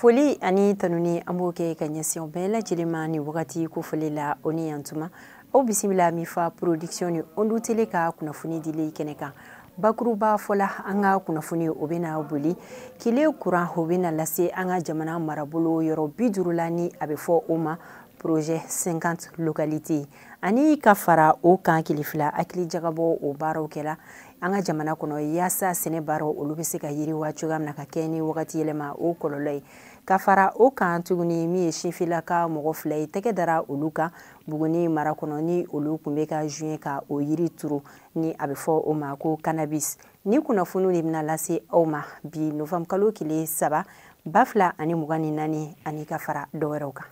foli ani tanuni an b'o kɛ ka ɲɛsin bɛɛ lajɛlen ma nin wagati kofɔli la aw ni yan tuma aw bisimila min fa production ni ondu tele ka kunnafoni dili kɛnɛ kan bakurubafɔ la an ka kunnafoni o bɛna boli kile kuran o bɛna lase an ka jamana marabolo yɔrɔ bi duuru la ni a bɛ fɔ o ma projet 50 localités ani ka fara o kan kile fila hakili jagabɔ o baaraw kɛra an ka jamana kɔnɔ yaasa sɛnɛ baaraw olu bɛ se ka yiriwa cogoya min na ka kɛɲɛ ni wagati yɛlɛma o kɔlɔlɔ ye ka fara o kan tuguni min ye sinfilaka mɔgɔ fila ye tɛgɛ dara olu kan buguni mara kɔnɔ ni olu tun bɛ ka joint ka o yiri turu ni a bɛ fɔ o ma ko cannabis nin kunnafoniw de bɛna lase aw ma bi novembre kalo tile saba ba fila ani mugan ni naani ani ka fara dɔ wɛrɛw kan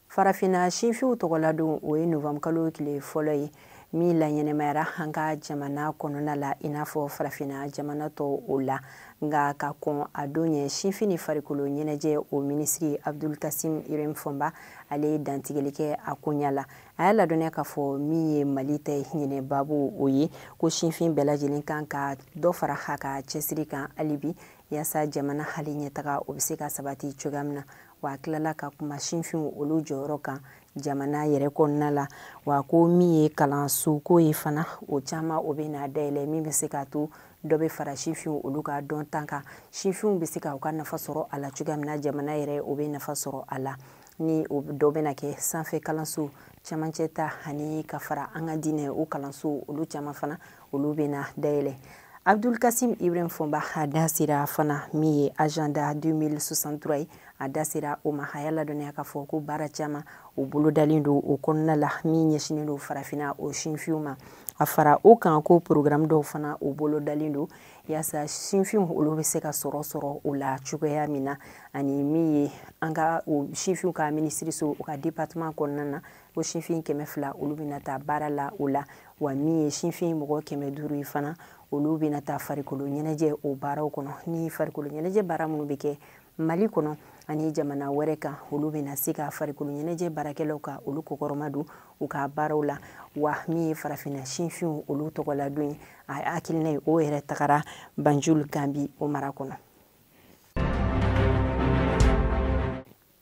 farafinna sinfinw tɔgɔladon o ye novembre kalo tile fɔlɔ ye min laɲɛnamayara an ka jamana kɔnɔna la i n'a fɔ farafina jamana tɔw o la nka ka kɔn a don ɲɛ sinfin ni farikolo ɲɛnajɛ o minisiri abdul kasim ibrahim fonba ale ye dantigɛli kɛ a koɲa la a y'a ladɔnniya k'a fɔ min ye mali ta ɲinan babu o ye ko sinfin bɛɛ lajɛlen kan ka dɔ fara a ka cɛsiri kan halibi yaasa jamana ale ɲɛtaga o bɛ se ka sabati cogoya min na wa a tilala ka kuma sinfinw olu jɔyɔrɔ kan jamana yɛrɛ kɔnɔna la wa ko min ye kalanso ko ye fana o caman o bɛna dayɛlɛ min bɛ se k'a to dɔ bɛ fara sinfinw olu ka dɔnta kan sinfinw bɛ se ka u ka nafa sɔrɔ a la cogoya min na jamana yɛrɛ o bɛ nafa sɔrɔ a la ni o dɔ bɛna kɛ sanfɛ kalanso camancɛ ta ani ka fara an ka diinɛ o kalanso olu caman fana olu bɛna dayɛlɛ abdul kasim ibrahim fonba a da sera fana min ye agenda 2063 ye a da sera o ma a y'a ladɔnniya k'a fɔ ko baara caman u bolodalen don o kɔnɔna la min ɲɛsinen don farafina o sinfinw ma a fara o kan ko programme dɔw fana u bolodalen don yaasa sinfinw olu bɛ se ka sɔrɔ sɔrɔ o la cogoya min na ani min ye an ka sinfinw ka minisiriso u ka département kɔnɔna na ko sinfin kɛmɛ fila olu bɛna taa baara la o la wa min ye sinfin mɔgɔ kɛmɛ duuru ye fana olu bɛna taa farikolo ɲɛnajɛ o baaraw kɔnɔ ni farikolo ɲɛnajɛ baara minnu bɛ kɛ mali kɔnɔ ani jamana wɛrɛ kan olu bɛna se ka farikolo ɲɛnajɛ baarakɛlaw ka olu kɔkɔrɔmadon u ka baaraw la wa min ye farafinna sinfinw olu tɔgɔladon ye a hakilina ye o yɛrɛ tagara banjul gambi o mara kɔnɔ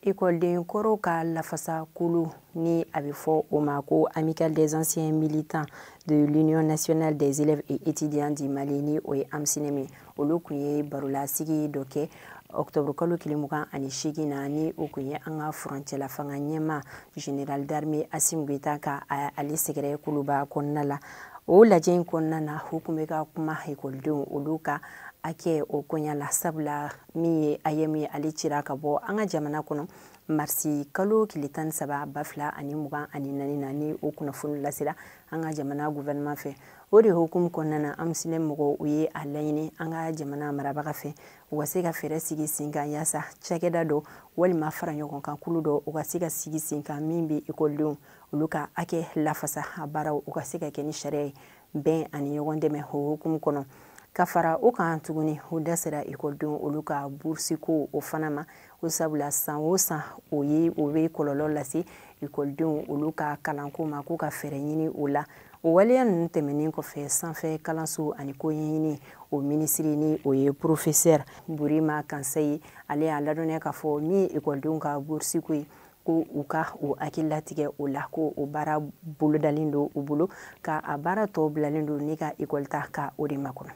Ekɔliden kɔrɔw ka lafasa kulu ni a bɛ fɔ o ma ko amicale des anciens militants de l'union nationale des élèves et étudiants du Mali ni o ye AMSUNEEM olu kun ye barolasigi dɔ kɛ octobre kalo tile mugan ani seegin na ni o kun ye an ka furancɛla fanga ɲɛma général d'armée Assimi Goïta ka ale sɛgɛrɛ kuluba kɔnɔna la o lajɛ in kɔnɔna na u kun bɛ ka kuma ekɔlidenw olu ka hakɛ o koɲa la sabula min ye AEEM ale cira ka bɔ an ka jamana kɔnɔ marisi kalo tile tan ni saba ba fila ani mugan ani naani na ni o kunnafoni lasera an ka jamana guvɛrɛnɛman fɛ o de hukumu kɔnɔna na AMSUNEEM mɔgɔw u ye a laɲini an ka jamana marabaga fɛ u ka se ka fɛɛrɛ sigi sen kan yaasa cakɛda dɔ walima fara ɲɔgɔn kan kulu dɔ u ka se ka sigi sen kan min bɛ ekɔlidenw olu ka hakɛ lafasa a baaraw u ka se ka kɛ ni sariya ye bɛn ani ɲɔgɔn dɛmɛ o hukumu kɔnɔ ka fara o kan tuguni u da sera ekɔlidenw olu ka burusiko o fana ma ko sabula san o san o ye o bɛ kɔlɔlɔ lase ekɔlidenw olu ka kalanko ma k'u ka fɛɛrɛ ɲini o la o waleya ninnu tɛmɛnen kɔfɛ sanfɛ kalanso ani ko ɲɛɲini o minisiri ni o ye porofesɛri burima kansaye ale y'a ladɔnniya k'a fɔ min ye ekɔlidenw ka burusiko ye ko u ka o hakililatigɛ o la ko o baara bolodalen don u bolo ka a baara tɔ bilalen don ne ka ekɔlita ka o de makɔnɔ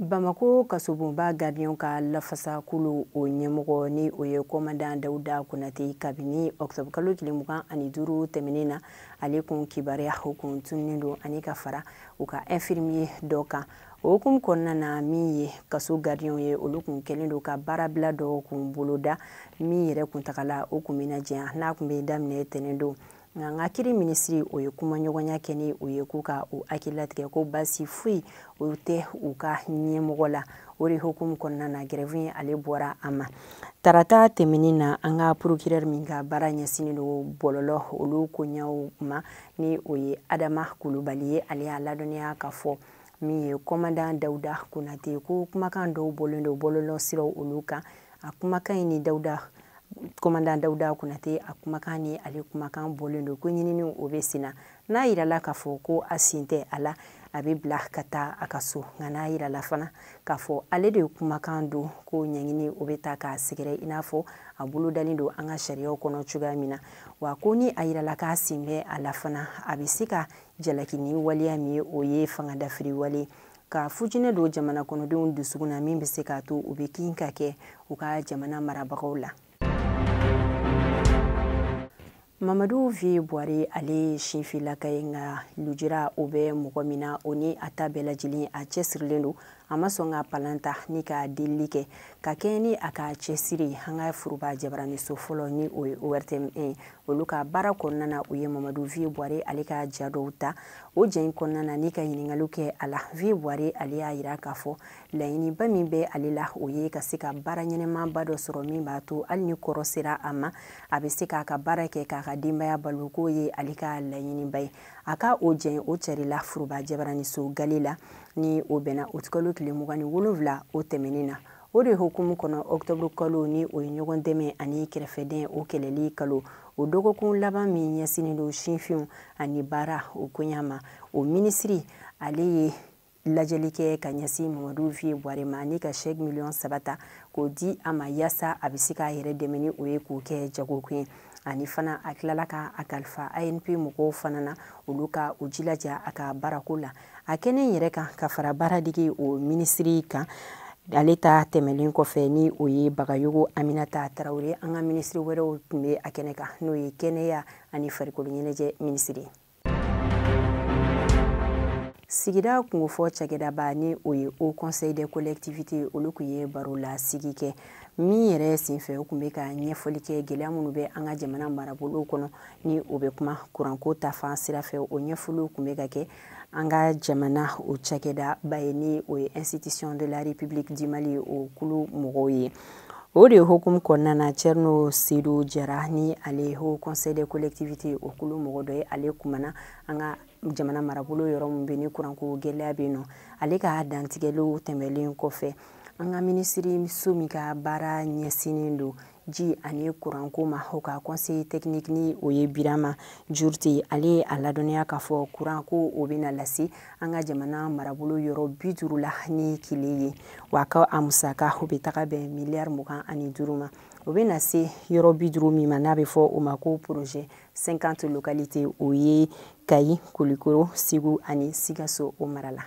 bamako kasobonba garidiɲɛw ka lafasakulu o ɲɛmɔgɔ ni o ye kɔmandan dawuda konate kabini ɔkutɔburukalo tile mugan ani duuru tɛmɛnen na ale kun kibaruya o kun tununnen don ani ka fara u ka infirmiye dɔ kan o hukumu kɔnɔna na min ye kaso garidiɲɛw ye olu kun kɛlen don ka baarabila dɔ kun boloda min yɛrɛ kuntagala o kun bɛna janya n'a kun bɛ daminɛ tɛnɛn don nka an ka kiri minisiri o ye kumaɲɔgɔnya kɛ ni o ye k'u ka o hakililatigɛ ko baasi foyi o tɛ u ka ɲɛmɔgɔ la o de hukumu kɔnɔna na gɛrɛfu ye ale bɔra a ma tarata tɛmɛnen na an ka porokirɛri min ka baara ɲɛsinnen don bɔlɔlɔ olu koɲɛw ma ni o ye adama kulubali ye ale y'a ladɔnniya ka fɔ min ye kɔmandan dawuda konate ko kumakan dɔw bɔlen do bɔlɔlɔ siraw olu kan a kumakan nin ni dawuda kɔmandan dawuda konate a kumakan ni ale kumakan bɔlen do ko ɲininiw o be senna n'a yirala k'a fɔ ko a sen tɛ a la a be bila ka taa a ka so nka n'a yirala fana k'a fɔ ale de kumakan don ko ɲɛɲini o be taa k'a sɛgɛrɛ i n'a fɔ a bolodalen don an ka sariyaw kɔnɔ cogoya min na wa ko ni a yirala k'a sen bɛ a la fana a be se ka jalaki ni waleya min ye o ye fangadafiri wale ka fitinɛ don jamana kɔnɔdenw dusukun na min bɛ se k'a to u bɛ kin ka kɛ u ka jamana marabagaw la mamadu vie bware ale ye sinfilaka ye nka lujura o bɛ mɔgɔ min na o ni a ta bɛɛ lajɛlen a cɛsirilen don a ma sɔn ka palan ta ni ka delili kɛ ka kɛɲɛ ni a ka cɛsiri ye an ka foroba jabaraniso fɔlɔ ni o ye ortm ye olu ka baara kɔnɔna na u ye mamadu vie bware ale ka ja dɔw ta o ja in kɔnɔna na ni ka ɲiningaliw kɛ a la vie bware ale y'a yira k'a fɔ laɲiniba min bɛ ale la o ye ka se ka baara ɲɛnɛmanba dɔ sɔrɔ min b'a to hali ni kɔrɔ sera a ma a bɛ se k'a ka baara kɛ k'a ka denbaya balo k'o ye ale ka laɲiniba ye a ka o ja in o cɛrila foroba jabaraniso gale la ni o bɛnna o kalo tile mugan ni wolonwula o tɛmɛnen na o de hukumu kɔnɔ ɔktɔburu kalo ni o ye ɲɔgɔn dɛmɛ ani kɛrɛfɛden o kɛlɛli kalo o dɔgɔkun laban min ɲɛsinnen don sinfinw ani baara o koɲa ma o minisiri ale ye lajɛli kɛ ka ɲɛsin mamadu vie bware ma ni ka chèque miliyɔn saba ta k'o di a ma yaasa a bɛ se k'a yɛrɛ dɛmɛ ni o ye k'o kɛ jagokun ye ani fana a tilala ka a kalifa anpe mɔgɔw fana na olu ka u jilaja a ka baarako la a kɛnɛ yɛrɛ kan ka fara baaradege o minisiri kan ale ta tɛmɛlen kɔfɛ ni o ye bagayogo aminata tarawele an ka minisiri wɛrɛw tun bɛ a kɛnɛ kan n'o ye kɛnɛya ani farikolo ɲɛnajɛ minisiri sigida kungofɔ cakɛdaba ni o ye haut conseil des collectivités olu kun ye baro lasigi kɛ min yɛrɛ senfɛ o kun bɛ ka ɲɛfɔli kɛ gɛlɛya minnu bɛ an ka jamana marabolow kɔnɔ ni o bɛ kuma kuranko ta fan sira fɛ o ɲɛfɔliw kun bɛ ka kɛ an ka jamana o cakɛdaba ye ni o ye institution de la république du mali o kulu mɔgɔw ye o de hukumu kɔnɔna na cɛrino sedu jara ni ale haut conseil des collectivités o kulu mɔgɔ dɔ ye ale kumana an ka jamana marabolo yɔrɔ min bɛ ni kuranko gɛlɛya bɛ yen nɔ ale ka dantigɛliw tɛmɛlen kɔfɛ an ka minisiriso min ka baara ɲɛsinnen don ji ani kuranko ma o ka conseiller technique ni o ye birama jurute ale ye a ladɔnniya k'a fɔ kuranko o bɛna lase an ka jamana marabolo yɔrɔ bi duuru la ni kile ye wa ka a musaka o bɛ taga bɛn miliyari mugan ani duuru ma o bɛna se yɔrɔ bi duuru min ma n'a bɛ fɔ o ma ko projet 50 localités o ye kayi kulikoro segu ani sikaso o mara la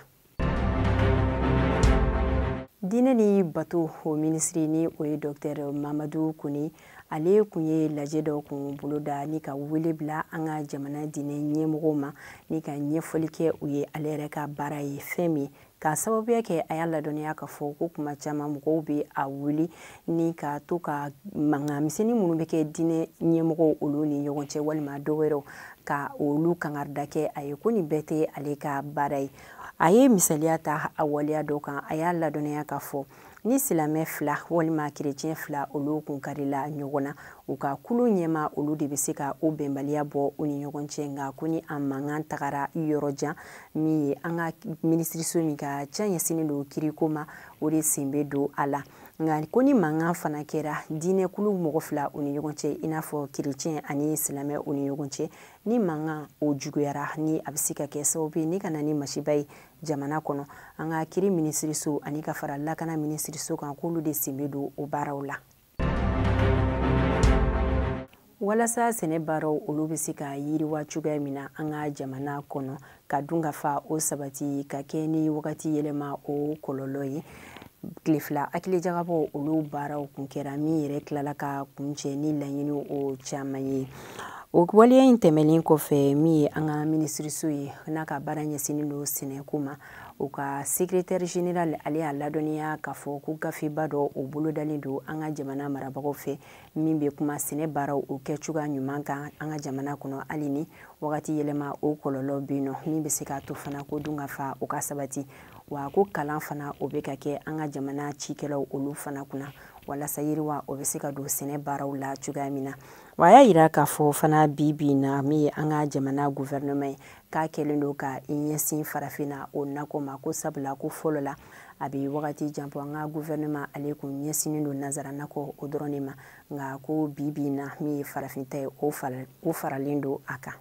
diinɛ ni bato o minisiri ni o ye dɔktɛr mamadu kone ale kun ye lajɛ dɔ kun boloda ni ka wele bila an ka jamana diinɛ ɲɛmɔgɔw ma ni ka ɲɛfɔli kɛ u ye ale yɛrɛ ka baara ye fɛn min ka sababuya kɛ a y'a ladɔnniya k'a fɔ ko kuma caman mɔgɔw bɛ a wuli ni ka to ka mankan misɛnnin minnu bɛ kɛ diinɛ ɲɛmɔgɔw olu ni ɲɔgɔn cɛ walima dɔ wɛrɛw ka olu kangarida kɛ a ye ko nin bɛɛ tɛ ale ka baara ye a ye misaliya ta a waleya dɔ kan a y'a ladɔnniya k'a fɔ ni silamɛ fila walima kerecɛn fila olu kun karila ɲɔgɔn na u ka kulu ɲɛmaa olu de bɛ se ka o bɛnbaliya bɔ u ni ɲɔgɔn cɛ nka ko ni a mankan tagara yɔrɔ jan min ye an ka minisiriso min ka ca ɲɛsinnen don kiriko ma o de sen bɛ don a la nka ko ni mankan fana kɛra diinɛkulu mɔgɔ fila u ni ɲɔgɔn cɛ i n'a fɔ kerecɛn ani silamɛ u ni ɲɔgɔn cɛ ni mankan o juguyara ni a bɛ se ka kɛ sababu ye ni ka na ni masiba ye jamana kɔnɔ an ka kiri minisiriso ani ka fara lakana minisiriso kan k'olu de sen bɛ don o baaraw la walasa sɛnɛ baaraw olu bɛ se ka yiriwa cogoya min na an ka jamana kɔnɔ ka dunkafa o sabati ka kɛ ni wagati yɛlɛma o kɔlɔlɔ ye tile fila hakilijagabɔ olu baaraw kun kɛra min yɛrɛ tilala ka kuncɛ ni laɲini o caman ye o waleya in tɛmɛnen kɔfɛ min ye an ka minisiriso ye n'a ka baara ɲɛsinnen don sɛnɛko ma o ka sekretɛri general ale y'a ladɔnniya k'a fɔ ko gafeba dɔ o bolodalen don an ka jamana marabagaw fɛ min bɛ kuma sɛnɛ baaraw o kɛ cogoya ɲuman kan an ka jamana kɔnɔ hali ni wagati yɛlɛma o kɔlɔlɔ bɛ yen nɔ min bɛ se k'a to fana ko dunkafa o ka sabati wa ko kalan fana o bɛ ka kɛ an ka jamana cikɛlaw olu fana kunna walasa yiriwa o bɛ se ka don sɛnɛ baaraw la cogoya min na wa a y'a jira k'a fɔ fana bi bi in na min ye an ka jamana guvɛrɛnɛman ye k'a kɛlen don ka i ɲɛsin farafinna o nakɔ ma ko sabula ko fɔlɔ la a bɛ wagati jan bɔ an ka gouvernement ale kun ɲɛsinnen don nazara nakɔ o dɔrɔn de ma nka ko bi bi na min ye farafin ta ye o faralen don a kan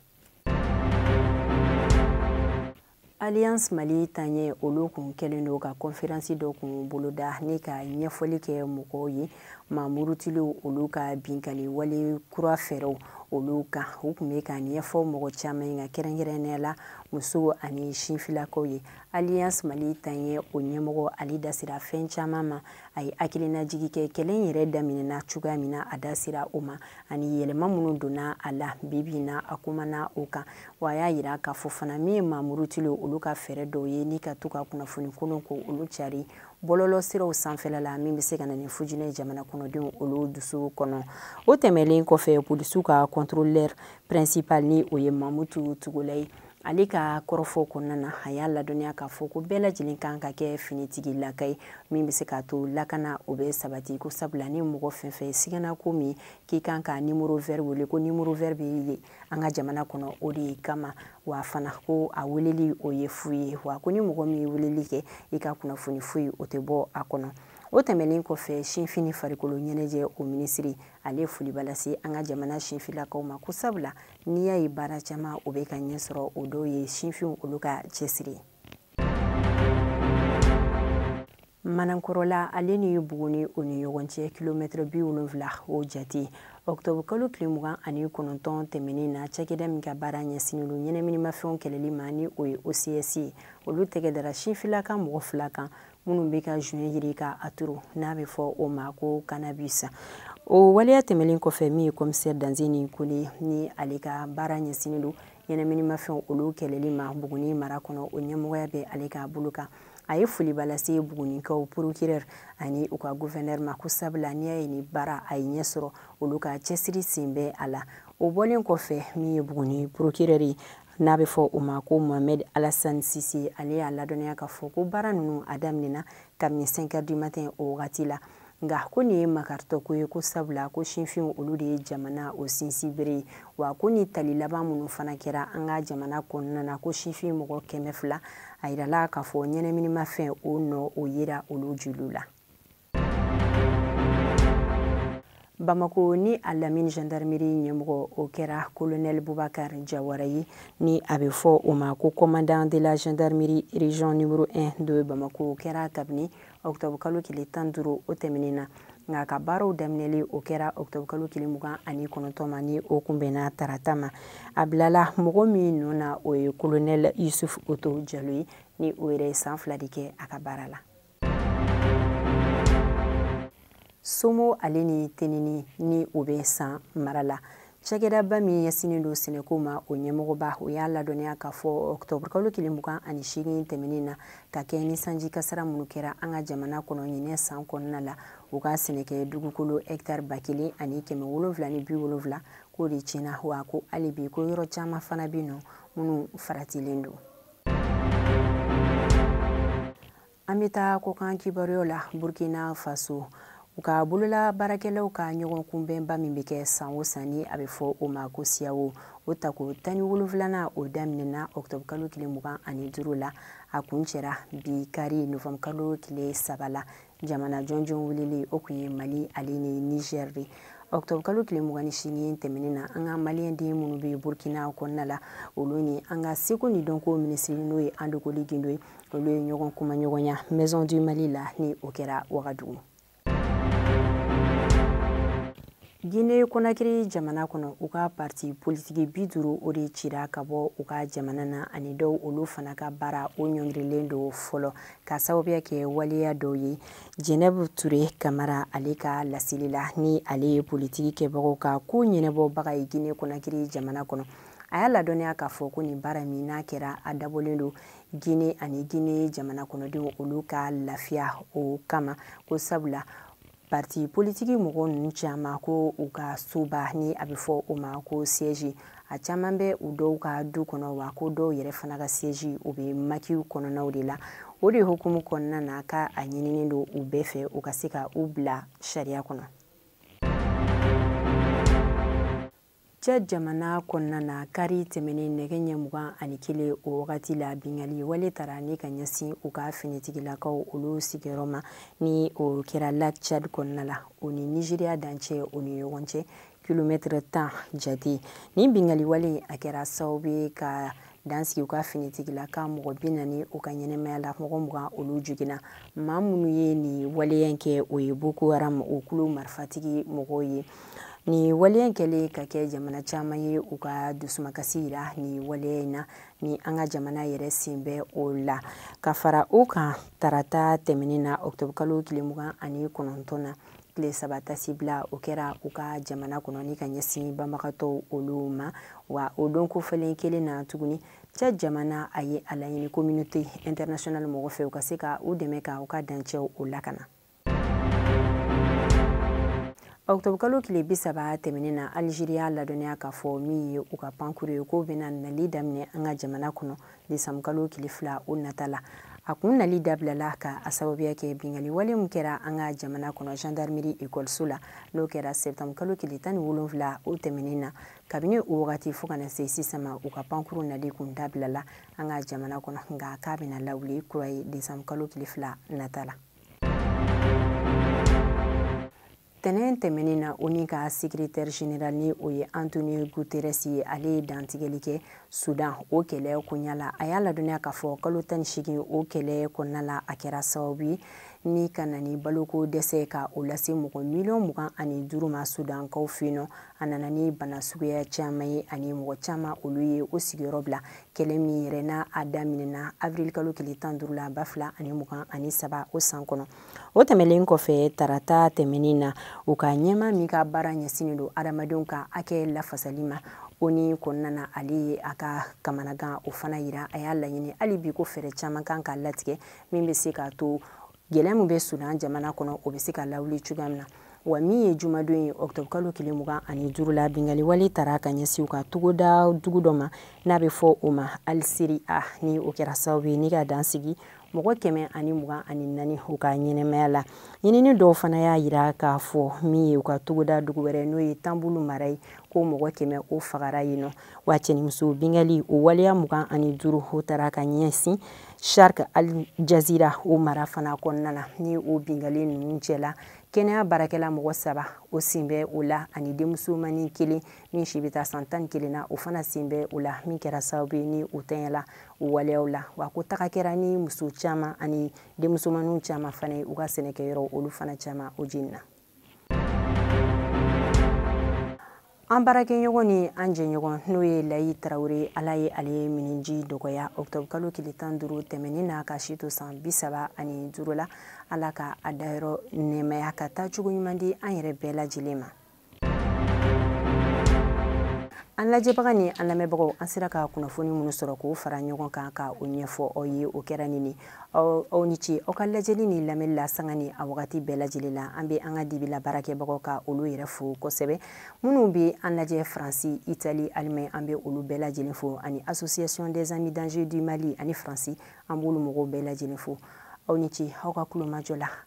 alliance mali taɲɛ olu kun kɛlen don ka kɔnferansi dɔ kun boloda ni ka ɲɛfɔli kɛ mɔgɔw ye mamurutiliw olu ka binkali wale kura fɛɛrɛw olu kan u kun bɛ ka ɲɛfɔ mɔgɔ caman ye ka kɛrɛnkɛrɛnnenya la musow ani sinfilakaw ye alliance mali taɲɛ o ɲɛmɔgɔ ale da sera fɛn caman ma a ye hakilinajigi kɛ kɛlɛ in yɛrɛ daminɛna cogoya min na a da sera o ma ani yɛlɛma minnu donna a la bibi na a kumana o kan wa a y'a yira k'a fɔ fana min ye mamurutiliw olu ka fɛɛrɛ dɔw ye ni ka to ka kunnafoni kolon ko olu cari bɔlɔlɔ siraw sanfɛla la min bɛ se ka na ni fitinɛ jamana kɔnɔdenw olu dusu kɔnɔ o tɛmɛlen kɔfɛ polisiw ka contrôleur principal ni o ye mamutu togola ye ale ka kɔrɔfɔ kɔnɔna na a y'a ladɔnniya k'a fɔ ko bɛɛ lajɛlen kan ka kɛ finitigi laka ye min bɛ se k'a to lakana o bɛ sabati ko sabula ni mɔgɔ fɛn fɛn sigana ko min k'i kan ka nimoro vɛri wele ko nimoro vɛri bɛ yen an ka jamana kɔnɔ o de kama wa fana ko a weleli o ye fu ye wa ko ni mɔgɔ min ye weleli kɛ i ka kunnafoni foyi o tɛ bɔ a kɔnɔ o tɛmɛnen kɔfɛ sinfin ni farikolo ɲɛnajɛ o minisiri ale ye foliba lase an ka jamana sinfilakaw ma ko sabula n'i y'a ye baara caman o bɛ ka ɲɛ sɔrɔ o dɔw ye sinfinw olu ka cɛsiri ye manankɔrɔla ale ni buguni o ni ɲɔgɔn cɛ kilomɛtɛrɛ bi wolonfila o jate ɔktɔbukalo tile mugan ani kɔnɔntɔn tɛmɛnen na cakɛda min ka baara ɲɛsinnen don ɲɛnaminimafɛnw kɛlɛli ma ni o ye ocs ye olu tɛgɛ dara sinfilaka mɔgɔ fila kan minnu bɛ ka joint yiri ka a turu n'a bɛ fɔ o ma ko cannabis o waleya tɛmɛnen kɔfɛ min ye kɔmisɛri danzeni kone ni ale ka baara ɲɛsinnen don ɲɛnaminimafɛnw olu kɛlɛli ma buguni mara kɔnɔ o ɲɛmɔgɔya bɛ ale ka bolo kan a ye foliba lase bugunikaw porokirɛri ani u ka guvɛnɛri ma ko sabula n'i y'a ye ni baara a ye ɲɛ sɔrɔ olu ka cɛsiri sen bɛ a la o bɔlen kɔfɛ min ye buguni porokirɛri n'a bɛ fɔ o ma ko mohamɛd alasani sise ale y'a ladɔnniya k'a fɔ ko baara ninnu a daminɛna kabini 5 heures du matin o wagati la nka ko nin ye makaritɔ ko ye ko sabula ko sinfinw olu de ye jamana o sinsin bere ye wa ko ni tali laban minnu fana kɛra an ka jamana kɔnɔna na ko sinfin mɔgɔ kɛmɛ fila a yirala k'a fɔ ɲɛnaminimafɛn o nɔ o yera olu joliw la bamako ni a lamini gendarmerie ɲɛmɔgɔ o kɛra kolonɛl bubakar jawara ye ni a bɛ fɔ o ma ko commandant de la gendarmerie region numero 1 de bamako o kɛra kabini octobre kalo tile tan ni duuru o tɛmɛnen na nka a ka baaraw daminɛli o kɛra octobre kalo tile mugan ani kɔnɔntɔn ma ni o kunbɛnna tarata ma a bilala mɔgɔ min nɔ na o ye kolonɛl yusuf oto jalo ye ni o yɛrɛ ye san fila de kɛ a ka baara la somo ale ni teneni ni o bɛ san mara la cakɛdaba min ɲɛsinnen don sɛnɛko ma o ɲɛmɔgɔba o y'a ladɔnniya k'a fɔ ɔktɔburukalo kile mugan ani seegin tɛmɛnen na ka kɛ ni sanji kasara minnu kɛra an ka jamana kɔnɔ ɲinɛ san kɔnɔna la u ka sɛnɛkɛ dugukolo hɛktari ba kelen ani kɛmɛ wolonfila ni bi wolonfila k'o de tiɲɛna wa ko hali bi ko yɔrɔ caman fana bɛ nɔ minnu faratilen don an bɛ taa kɔkan kibaruyaw la burkina faso u ka bolola baarakɛlaw ka ɲɔgɔn kunbɛnba min bɛ kɛ san o san ni a bɛ fɔ o ma ko siyawo o tako tan ni wolonfilana o daminɛna ɔkutɔbu kalo tile mugan ani duuru la a kuncɛra bi kari nɔfɛmu kalo tile saba la jamana jɔnjɔn weleli o kun ye mali ale ni nizɛri de ɔkutɔbu kalo tile mugan ni seegin tɛmɛnen na an ka maliyɛn den minnu bɛ burkina kɔnɔna la olu ni an ka seko ni dɔnko minisiri n'o ye andokoli gindo ye olu ye ɲɔgɔn kumaɲɔgɔnya maison du mali la ni o kɛra wagadugu gine konakiri jamana kɔnɔ u ka parti politiki bi duuru o de cira ka bɔ u ka jamana na ani dɔw olu fana ka baara o ɲɔngirilen don fɔlɔ ka sababuya kɛ waleya dɔw ye jɛnɛbu ture kamara ale ka laseli la ni ale ye politiki kɛbagaw ka ko ɲɛnɛbɔbaga ye gine konakiri jamana kɔnɔ a y'a ladɔnniya k'a fɔ ko nin baara min n'a kɛra a dabɔlen don gine ani gine jamana kɔnɔdenw olu ka lafiya o kama ko sabula parti politiki mɔgɔ ninnu caman ko u ka soba ni a bɛ fɔ o ma ko siège a caman bɛ u dɔw ka du kɔnɔ wa ko dɔw yɛrɛ fana ka siège u bɛ makiw kɔnɔnaw de la o de hukumu kɔnɔna na ka a ɲininen don u bɛɛ fɛ u ka se ka u bila sariya kɔnɔ chad jamana kɔnɔna na kari tɛmɛnen nɛgɛ ɲɛ mugan ani kelen o wagati la bingali wale taara ni ka ɲɛsin u ka finitigilakaw olu sigiyɔrɔ ma ni o kɛra lac chad kɔnɔna la o ni nizeriya dancɛ o ni ɲɔgɔn cɛ kilomɛtɛrɛ tan jate nin bingali wale a kɛra sababu ye ka dan sigi u ka finitigilaka mɔgɔ bi naani u ka ɲɛnamaya la mɔgɔ mugan olu joginna maa minnu ye nin waleya in kɛ o ye boko haram o kulu marifatigi mɔgɔw ye nin waleya in kɛlen ka kɛ jamana caman ye u ka dusumakasi yira nin waleya in na ni an ka jamana yɛrɛ sen bɛ o la ka fara o kan tarata tɛmɛnen na ɔkutɔbukalo tile mugan ani kɔnɔntɔn na tile saba taasibila o kɛra u ka jamana kɔnɔ ni ka ɲɛsin banbagatɔw olu ma wa o don kofɔlen kelen na tuguni chad jamana a ye a laɲini communauté internationale mɔgɔ fɛ u ka se ka u dɛmɛ ka u ka dancɛw o lakana ɔkutɔbukalo tile bi saba tɛmɛnen na alizeri y'a ladɔnniya k'a fɔ min ye u ka pankuru ye k'o bɛna nali daminɛ an ka jamana kɔnɔ desankalo kile fila o nata la a kun nali dabilala ka a sababuya kɛ bingali wale min kɛra an ka jamana kɔnɔ gendarmerie ekɔliso la n'o kɛra sɛptamukalo kile tan ni wolonfila o tɛmɛnen na kabini o wagati fɔɔ ka na se sisan ma u ka pankuru nali kun dabilala an ka jamana kɔnɔ nka k'a bɛna lawuli kura ye desankalo kile fila nata la tɛnɛn tɛmɛnen na onu ka secrétaire général ni o ye antonio guterres ye ale ye dantigɛli kɛ sudan o kɛlɛ koɲa la a y'a ladɔnniya k'a fɔ kalo tan ni segin o kɛlɛ kɔnɔna la a kɛra sababu ye ni ka na ni baloko dɛsɛ ka o lase mɔgɔ miliyɔn mugan ani duuru ma sudankaw fɛ nɔ a nana ni bana suguya caman ye ani mɔgɔ caman olu ye o sigiyɔrɔ bila kɛlɛ min yɛrɛ n'a a daminɛna avril kalo tile tan duuru la ba fila ani mugan ani saba o san kɔnɔ o tɛmɛlen kɔfɛ tarata tɛmɛnin na u ka ɲɛmaa min ka baara ɲɛsinnen don adamadenw ka hakɛ lafasali ma onu kɔnɔna na ale ye a ka kamanagan o fana yira a y'a laɲini hali bi ko fɛɛrɛ caman kan ka latigɛ min bɛ se k'a to gɛlɛya min bɛ sudan jamana kɔnɔ o bɛ se ka lawuli cogoya min na wa min ye jumadon ye octobre kalo tile mugan ani duuru la bingali wale tara ka ɲɛsin u ka togoda dugu dɔ ma n'a bɛ fɔ o ma al sireha ni o kɛra sababu ye ni ka dan sigi mɔgɔ kɛmɛ ani mugan ani naani u ka ɲɛnɛmaya la ɲinini dɔw fana y'a yira k'a fɔ min ye u ka togoda dugu wɛrɛ n'o ye tanbulu mara ye ko mɔgɔ kɛmɛ o fagara yen nɔ wa cɛnimuso bingali o waleya mugan ani duuru o tara ka ɲɛsin sharq al jazira o mara fana kɔnɔna na ni o bingalen ninnu cɛla kɛnɛya baarakɛla mɔgɔ saba o sen bɛ o la ani denmusomanin kelen min si bɛ taa san tan ni kelen na o fana sen bɛ o la min kɛra sababu ye ni o tɛɲɛla o waleyaw la wa ko taga kɛra ni muso caman ani denmusomaninw caman fana ye u ka sɛnɛkɛyɔrɔ olu fana caman o jenina an baarakɛɲɔgɔn ni an jɛɲɔgɔn n'o ye layi tarawele ala ye ale ye miniji dɔgɔya octobre kalo tile tan duuru tɛmɛnin na k'a si to san bi saba ani duuru la ala ka a dayɔrɔ nɛɛmaya ka taa cogo ɲuman di an yɛrɛ bɛɛ lajɛlen ma an lajɛbaga ni an lamɛnbagaw an sera ka kunnafoni minnu sɔrɔ k'o fara ɲɔgɔn kan ka o ɲɛfɔ aw ye o kɛra nin ye aw ni ce aw ka lajɛli ni lamɛnni la sanga ni a wagati bɛɛ lajɛlen la an bɛ an ka dibila baarakɛbagaw ka olu yɛrɛ fo kosɛbɛ minnu bɛ an lajɛ faransi itali alimaɲi an bɛ olu bɛɛ lajɛlen fo ani association des amis d'angers du mali ani faransi an b'olu mɔgɔw bɛɛ lajɛlen fo aw ni ce aw ka kulomajɔ la